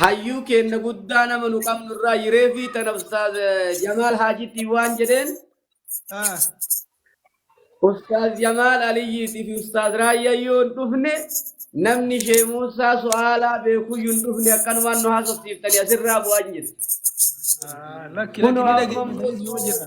hayyuu keenna guddaa nama nu qabnu irraa yiree fi tana ustaaz eh, jamaal haajitii waan jedheen Ah, ustaaz jamaal aliyyiitii fi ustaaz raayyaa yoo hin dhufne namni shee muusaa su'aalaa beekuyyuu hin dhufne akkanumaan nu haasofsiiftanii asirraa bu'aan jedhe ah, lakki lakki kunoo ni amma immoo dhageessisuu jira.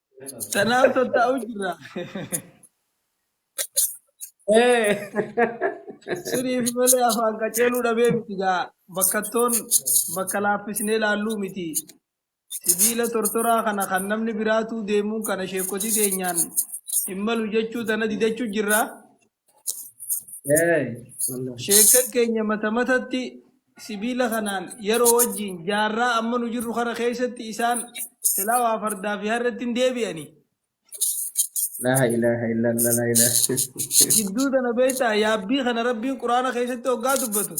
Tanaaf tattaa'u jirra. Ee, Suniif malee afaan qaceeluu dhabee miti gaa. Bakkattoon bakka laaffisnee laalluu miti. Sibiila tortoraa kana kan namni biraatuu deemuun kana sheekotii teenyaan hin malu jechuu tana didachuu jirra. Hey, Allah. Sheekka keenya mata matatti sibiila kanaan yeroo wajjin jaarraa amma nu jirru kana keessatti isaan silaa waa fardaa fi harreetti hin deebi'ani. La ilaha illallah la ilaha. Gidduu tana beektaa yaabbii kana rabbiin quraana keessatti hoggaa dubbatu.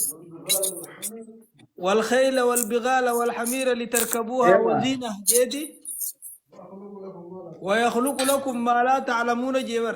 Wal khayla wal bigaala wal hamiira litarkabuuha Ewa. waziina jeeti. Wayakhluqu lakum maa laa ta'lamuuna jeebar.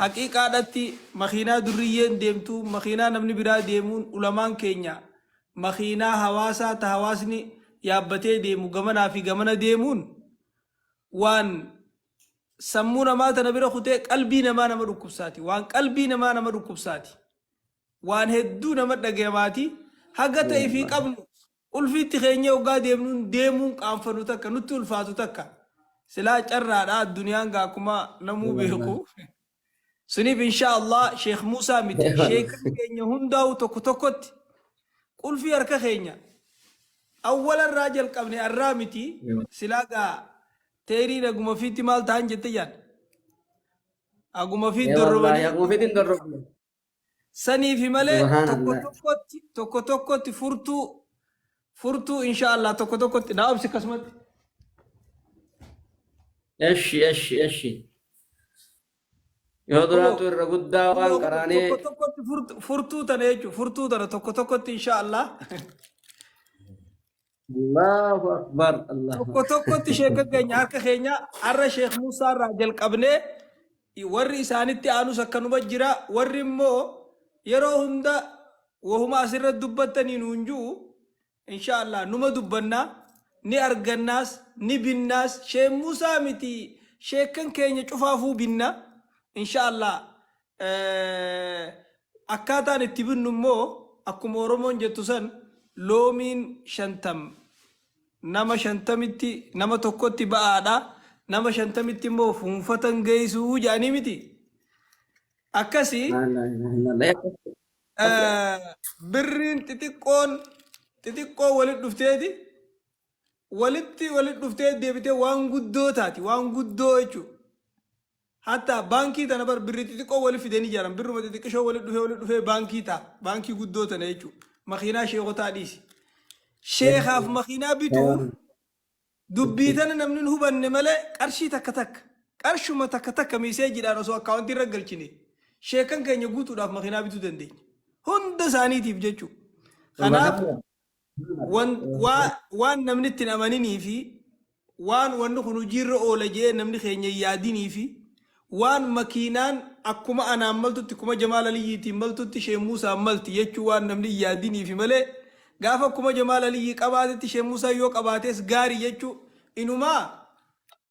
Haqiiqaadhatti makiinaa durriyyeen deemtu, makiinaa namni biraa deemuun ulamaan keenya makiinaa hawaasaa ta hawaasni yaabbatee deemu gamanaa fi gamana deemuun waan sammuu namaa tana bira kutee qalbii namaa nama dhukkubsaati. Waan qalbii namaa nama dhukkubsaati. Waan hedduu nama dhagayamaati. Haga ta ifii qabnu Qulfiitti keenyee oggaa deemnuun deemuun qaanfanu takka nutti ulfaatu takka silaa carraadha adduniyaan gaa akkuma namuu beeku suniif inshaa Allah sheekh Muusaa miti sheekni keenya hundaa'u tokko tokkotti qulfii harka keenya awwala irraa jalqabne arraa miti silaa gaa teeriin aguma fiitti maal ta'an jette jaan aguma fiitti dorrobanii Quufiitiin dorrobne. saniifi malee Subahana tokko Allah. tokkotti tokko tokkotti furtuu furtuu insha Allah tokko tokkotti naa obsi akkasumatti Eshi eshi eshi. Yoo duraatu irra guddaa waan Kunoo qaraanee tokko tokkotti furtu- furtuu tana jechuudha furtuu tana tokko tokkotti insha Allah Allahu akbar Allahu tokko akbar. tokkotti sheeka keenya harka keenya har'a sheek Muusaa irraa jalqabnee warri isaanitti aanus akkanuma jira warri immoo yeroo hunda wahuma asirra dubbattanii nuun jiru inshaallah numa dubbannaa ni argannaas ni binnaas sheek Muusaa miti sheekan keenya cufaafuu binna inshaallah Akkaataan itti binnu immoo akkuma Oromoon jettu san loomiin shantam nama shantamitti nama tokkotti ba'aadha nama shantamitti immoo fuunfatan geessuu jedhanii miti. Akkasi birriin xixiqqoon xixiqqoo walitti dhufteeti walitti walitti dhuftee deebitee waan guddoo taati waan guddoo jechuudha. Hatta bankii tana bar birri xixiqqoo wali fideni jaran birruma xixiqqishoo wali dhufee wali dhufee bankii ta, bankii guddoo tana jechu makiinaa sheekotaa dhiisi sheekaaf makiinaa bituuf dubbii tana namni hin hubanne malee qarshii takka takka qarshuma takka takka miiseejiidhaan osoo akkaawuntii irra galchine sheekan keenya guutuudhaaf makiinaa bituu dandeenya hunda isaaniitiif jechuu kanaaf wan, waa, waan namni itti hin amaninii fi waan wanni kun hojiirra oola jedhee namni keenya hin yaadinii fi waan makiinaan akkuma anaan maltutti kuma Jamaal Aliyyiitiin maltutti Sheeh Muusaan malti jechuu waan namni hin yaadiniifi malee gaafa kuma Jamaal Aliyyii qabaatetti Sheeh Muusaan yoo qabaates gaari jechuu inumaa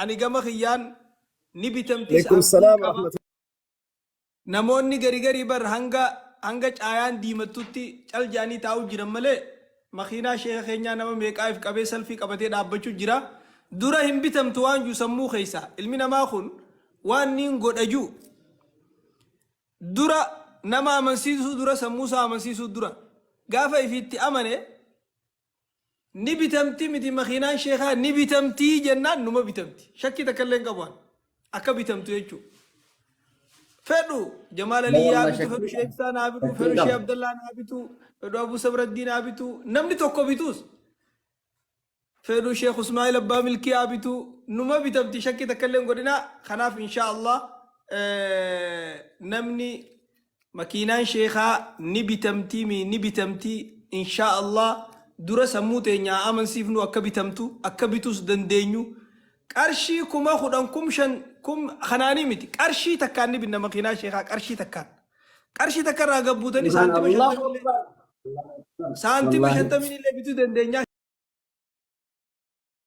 Ani gama kiyyaan ni bitamtis Alaikum abdiin salaam qaba. warahmatullahi. Namoonni gari gari bar hanga hanga caayaan diimattutti cal jedhanii taa'u jiran malee makiinaa sheeka keenyaa nama meeqaa if qabee salfii qabatee dhaabbachu jira. Dura hin bitamtu waan ju sammuu keessa. Ilmi namaa kun waan niin godha ju dura nama amansiisuu dura sammuu isaa amansiisuu dura gaafa ifiitti amane Ni bitamti miti makiinaan sheekaa ni bitamtii jennaan numa bitamti. Shakkii takka illee hin qabu an. Akka bitamtu jechuu. Fedhu Jamaal Alii yaa Wallah bitu, fedhu shakkii Shee qaba. Ibsaa naa bitu, Shakkii fedhu Shee qaba. Abdallaa naa bitu, fedhu Abuu Sabraddii naa bitu. Namni tokko bituus. Fedhu Sheekh Usmaa'il Abbaa Milkii haa bitu. Numa bitamti shakkii takka illee hin godhinaa. Kanaaf inshaa Allah eh, namni Makiinaan sheekhaa ni bitamtii mii ni bitamtii inshaa allah dura sammuu teenya haa amansiifnu akka bitamtu akka bituus dandeenyu qarshii kuma kudhan kum shan kum kanaanii miti qarshii takkaan ni binna makiinaa sheekhaa qarshii takkaan qarshii takka irraa gabbuutanii Subhaan saantima Allah. shantamii illee Allahu Akbar. saantima Wallaahi. shantamii illee bituu dandeenyaa